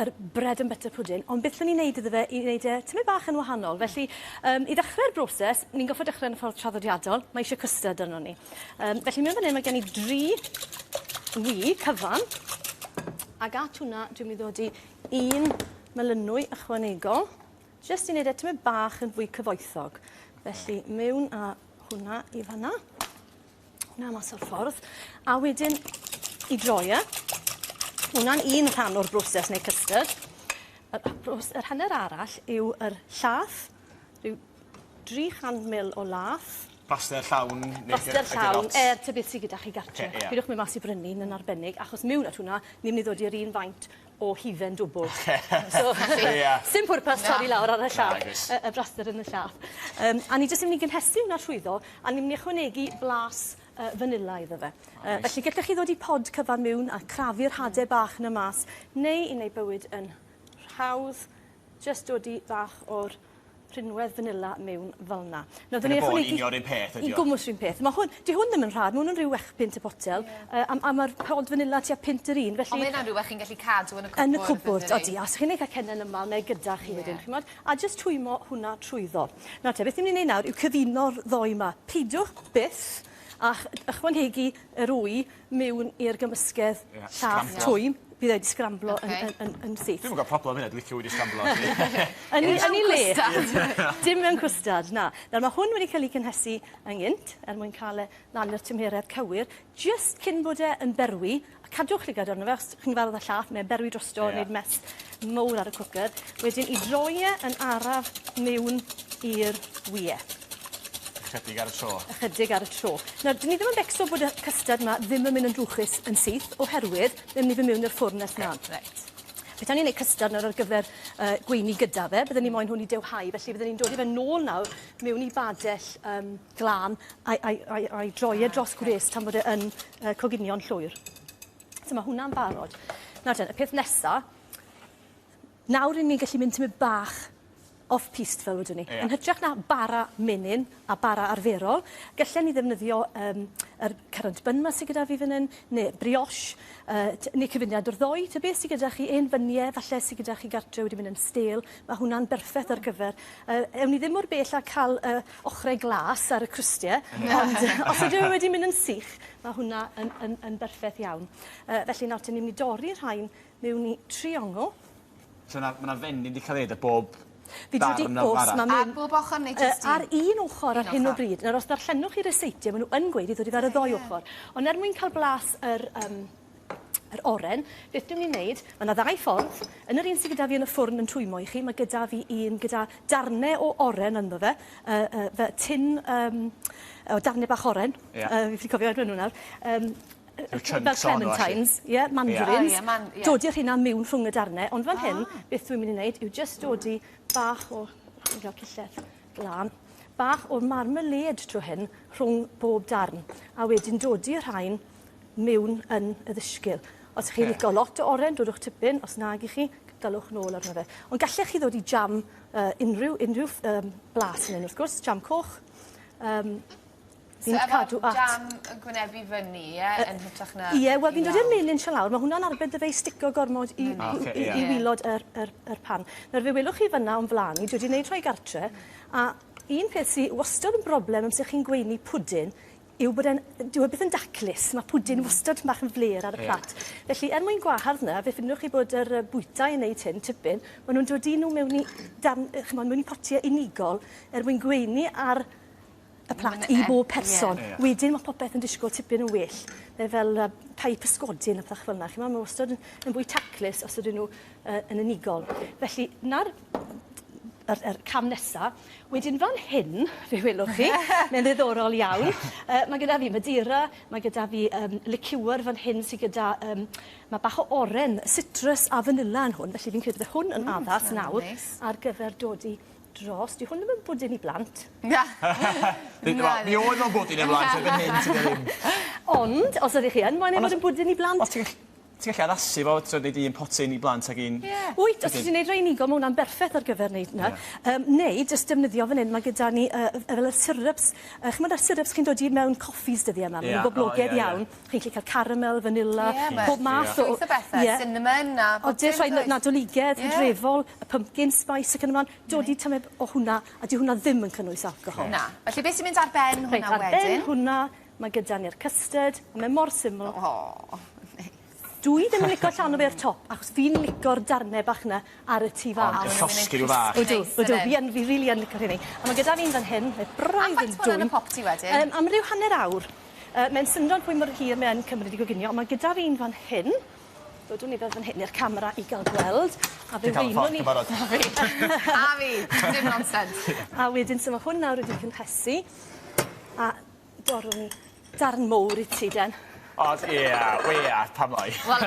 yr bread and butter pudding, ond beth o'n i'n neud iddo fe i neud e tymed bach yn wahanol. Felly, yym, i ddechre'r broses, ni'n gorffod dechre yn y ffordd traddodiadol, mae isie custard arnon ni. Yym, felly mewn fan 'yn mae gen i dri ŵi cyfan, ag at hwnna dwi'n mynd i ddodi un melynwy ychwanegol, jyst i neud e tymed bach yn fwy cyfoethog. Felly, mewn â hwnna i fan 'na. Hwna mas o'r ffordd. A wedyn i droi e. Hwna'n un rhan o'r broses neu custard. Yr, yr hanner arall yw yr llath, rhyw 300 ml o lath. Plaster llawn? Plaster llawn, er tybeth sydd gyda chi gartre. Okay, yeah. Pidwch mynd mas i brynu, yn arbennig, achos mewn at hwnna, ni'n mynd i ddod i'r un faint o hufen dwbwl. Oce. So felly... Ia. ...sdim pwrpas torri lawr ar y llaw. Nagos. Y y braster yn y llaw. Yym a ni jyst yn myn' i gynhesu wnna rhwyddo a ni myn' i ychwanegu blas yy fanila iddo fe. O reit. Yy felly gellech chi ddodi pod cyfan miwn a crafu'r hade bach 'na mas neu i neu' bywyd yn rhawdd jyst dodi bach o'r rhinwedd fanila mewn felna. Nawr, dyn ni ychwanegu... Yn y un peth ydi o. I gwmwys rhywun peth. Mae hwn... Di hwn ddim yn rhad, mae hwn yn rhyw wech pint y potel, yeah. a, a mae'r pod fanila tua pint yr un, felly... Ond mae hynna'n rhywbeth chi'n gallu cadw yn y cwbwrdd, Yn y cwbwrdd, odi. Os chi'n ei cael cennen yma, neu gyda chi yeah. wedyn, chi'n modd, a jyst twymo hwnna trwyddo. Nawr te, beth ni'n mynd i wneud nawr yw cyfuno'r ddoi yma. Peidiwch byth a'ch ychwanegu yr wy mewn i'r gymysgedd llath twym, bydd e wedi sgramblo yn yn yn yn syth. Dwi'm yn gweld problem hynna dwi licio wedi sgramblo. Yn ei yn ei le. Dim mewn cwstard na. Nawr ma' hwn wedi ca'l 'i cynhesu yn gynt er mwyn ca'l e lan i'r tymheredd cywir jyst cyn bod e yn berwi a cadwch llygad arno fe os chi'n gyfarwydd â llath mae'n berwi drosto neud mess mowr ar y cwcr, wedyn i droi e yn araf miwn i'r wye. Ychydig ar y tro. Ychydig ar y tro. Nawr, dyn ni ddim yn becso bod y custard yma ddim yn mynd yn drwchus yn syth, oherwydd ddim ni fy miwn i'r ffwrn nes mlaen. Okay. Reit. Petan ni'n ei custard nawr ar gyfer uh, gweini gyda fe, byddwn ni moyn hwn i dewhau, felly byddwn ni'n dod i fe nôl nawr mewn i badell um, glan a'i, ai, ai, ai droi e dros gwres tan bod e yn uh, coginio'n llwyr. So mae hwnna'n barod. Nawr ten, y peth nesa, nawr rydyn ni'n gallu mynd tymud bach off-piste fel wedwn ni. Yeah. Yn hytrach na bara menyn a bara arferol, gallwn ni ddefnyddio um, yr current bun ma sydd gyda fi fan hyn, neu brioche, uh, neu cyfuniad o'r ddoi, ta beth sydd gyda chi, un fyniau, falle sydd gyda chi gartre wedi mynd yn stel, mae hwnna'n berffaith ar gyfer. Uh, ewn ni ddim mor bell a cael uh, ochrau glas ar y crustie, ond os ydyn nhw wedi mynd yn sych, mae hwnna yn, yn, yn berffaith iawn. Uh, felly nawr, ni'n mynd i dorri rhain mewn i triongl. So yna, mae yna fenyn wedi cael ei wneud bob Fi wedi os mae mynd... Ar bob ochr neu jyst un? Ar un ochr ar hyn o bryd. Nawr, os darllenwch chi reseitiau, maen nhw yn gweud i ddod i fe ar y ddoi ochr. Ond er mwyn cael blas yr, um, Yr oren, beth dwi'n mynd i wneud? Mae yna ddau ffordd. Yn yr un sydd gyda fi yn y ffwrn yn twymmo i chi, mae gyda fi un gyda darnau o oren ynddo fe, uh, uh, fe tin um, o darnau bach oren. Yeah. Uh, fi wedi cofio enw nhw nawr. Um, fel clementines, ie, yeah, mandarins. Yeah, man, yeah. Dodi rhina mewn rhwng y darnau, ond fan ah. hyn, beth dwi'n mynd i wneud yw just dodi bach o... Fi'n cael cillell glân bach o'r marmalade trwy hyn rhwng bob darn a wedyn dodi y rhain mewn yn y ddysgl. Os chi'n licio lot o oren, dodwch tipyn. Os nag i chi, dalwch nôl arno fe. Ond gallech chi ddod i jam uh, unrhyw, unrhyw um, blas yn un, wrth gwrs, jam coch. Um, So efo'r cadw at... jam yn gwynebu fyny, ie, uh, yn hytrach na... Ie, yeah, wel fi'n dod i'r melin sian lawr, mae hwnna'n arbed dy fe i stico gormod i, mm. okay, i, yeah. i wylod yr, yr, yr pan. Nawr fe welwch chi fyna o'n flan i, dwi wedi gwneud rhoi gartre, a un peth sy'n wastad yn broblem amser chi'n gweini pwdyn yw bod e'n... Dyw e byth yn daclus, mae pwdin wastad bach yn flêr ar y plat. Felly, er mwyn gwahardd 'na, fe ffindwch chi bod yr bwytai yn wneud hyn tipyn, maen nhw'n dod i nhw mewn i darn- chimod, mewn i potiau unigol er mwyn gweini ar y plat i bob person. Wedyn mae popeth yn disgwyl tipyn yn well. Mae fel pie pysgodyn a pethach fel 'na, chimod, mae wastad yn fwy taclus os ydyn nhw yn unigol. Felly, 'na'r yr yr cam nesa. Wedyn fan hyn, fe welwch chi, mae'n ddiddorol iawn. Uh, mae gyda fi Madeira, mae gyda fi um, liqueur fan hyn sydd gyda, um, mae bach o oren, citrus a vanilla yn hwn, felly fi'n credu bod hwn yn mm, addas nawr nice. ar gyfer dod i dros. Di hwn ddim yn bwdyn i blant. Na. Mi oedd o'n bwdyn i blant, erbyn hyn, ti'n ddim. Ond, os ydych chi yn, mae'n ei fod yn bwdyn i blant. Os ti'n Ti gallu addasu fo, t'od neud un potyn i blant ag un... Ie. Wyt, os ti'n neud rhai unigol ma' wnna'n berffeth ar gyfer neud 'na. Ie. Yym neu jyst defnyddio fan 'yn ma' gyda ni yy yy fel y syryps yy ch'mod yr syryps chi'n dod i mewn coffis dyddie 'ma ma' nw'n boblogedd iawn. Chi'n 'llu ca'l caramel, fanila... Ie ma'... ...pob math o... ...llwyth o bethe. Ie. Cinnamon a bob dim does? Odi a rhai na- nadoligedd... Ie. ...hydrefol, y pumpkin spice ac yn y mlan. Dod i tymed o hwnna a dyw hwnna ddim yn cynnwys alcohol. Na. Felly be' sy'n mynd ar ben hwnna wedyn? Reit ar ben hwnna Ma' gyda ni'r custard a mae mor syml. O! Neis. Dw i ddim yn lico llanw fe i'r top achos fi'n lico'r darne bach 'na ar y tu fas. O ma'n llosgi n'w fach. Odw odw fi yn fi rili yn lico rheini. A ma' gyda fi un fan hyn mae braidd yn dwym. A faint ma' wnna'n y popty wedyn? Yym am ryw hanner awr. Yy mae'n syndod pwy mor hir mae yn cymryd i goginio on' ma' gyda fi un fan hyn dodwn i fel fan hyn i'r camera i ga'l gweld a fe wynwn i... Ti'n ca'l y fforc yn barod. A fi. A fi. Dim nonsens. A wedyn so ma' hwn nawr wedi cynhesu a Dorwn ni darn mowr i ti den. Os, ie, we ath, pam bai? Wel,